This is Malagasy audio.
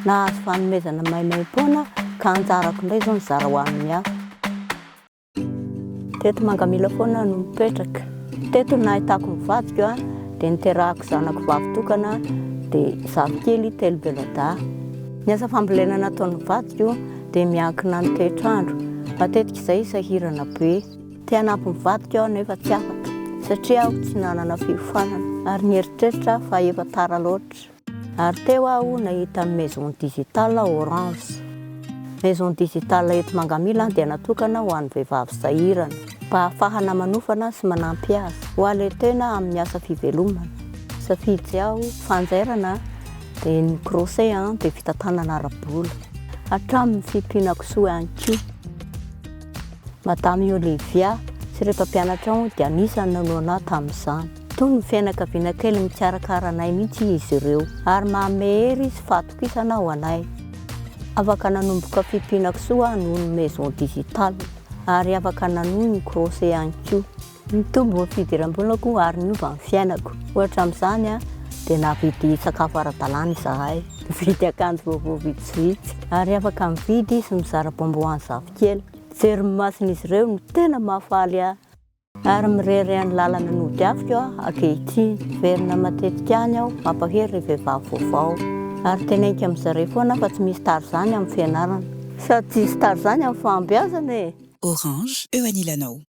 Nahazo fanomezana maimaimpoana aho ka anjarako indray izao ny zara ho amin'ny hafa. Teto Mangamila foana no mipetraka. Teto no nahitako ny vadiko a, dia niterahako zanako vavy tokana dia zafikely telo beladahy. Ny asa fambolena nataon'ny vadiko dia miankina amin'ny toetr'andro. Matetika izay sahirana be. Te hanampy ny vadiko aho nefa tsy afaka satria aho tsy nanana fiofanana ary nieritreritra aho fa efa tara loatra. Ary teo aho nahita ny Maison Digital Orange. Maison Digital eto Mangamila dia natokana ho an'ny vehivavy sahirana mba hahafahana manofana sy manampy azy ho halen-tena amin'ny asa fivelomana. Safidy aho fanjairana dia ny crochet dia fitantanana ara-bola hatramin'ny fiompiana kisoa ihany koa. Madame Olivia sy ireo mpampianatrao dia anisan'ny nanohana ahy tamin'izany. Toa ny fianakaviana kely mikarakara anay mihitsy izy ireo, ary manome hery sy fahatokisana ho anay. Afaka nanomboka fimpiana kisoa aho noho ny Maison Digital, ary afaka nanohy ny crochet ihany koa. Nitombo ny fidiram-bolako ary niova ny fiainako. Ohatra amin'izany dia nahavidy sakafo ara-dalàna izahay, nividy akanjo vaovao vitsivitsy, ary afaka mividy sy mizara bonbons avy hatrany. Kely, mijery ny mason'izy ireo no tena mahafaly ahy. Ary mirehareha any lalana nodiaviko aho ankehitriny. Miverina matetika any aho, mampahery ireo vehivavy vaovao. Ary tena iko amin'i zareo foana aho fa tsy misy tara izany amin'ny fianarana. Sady tsy hisy tara izany amin'ny fahombiazana e! Orange eo anilanao.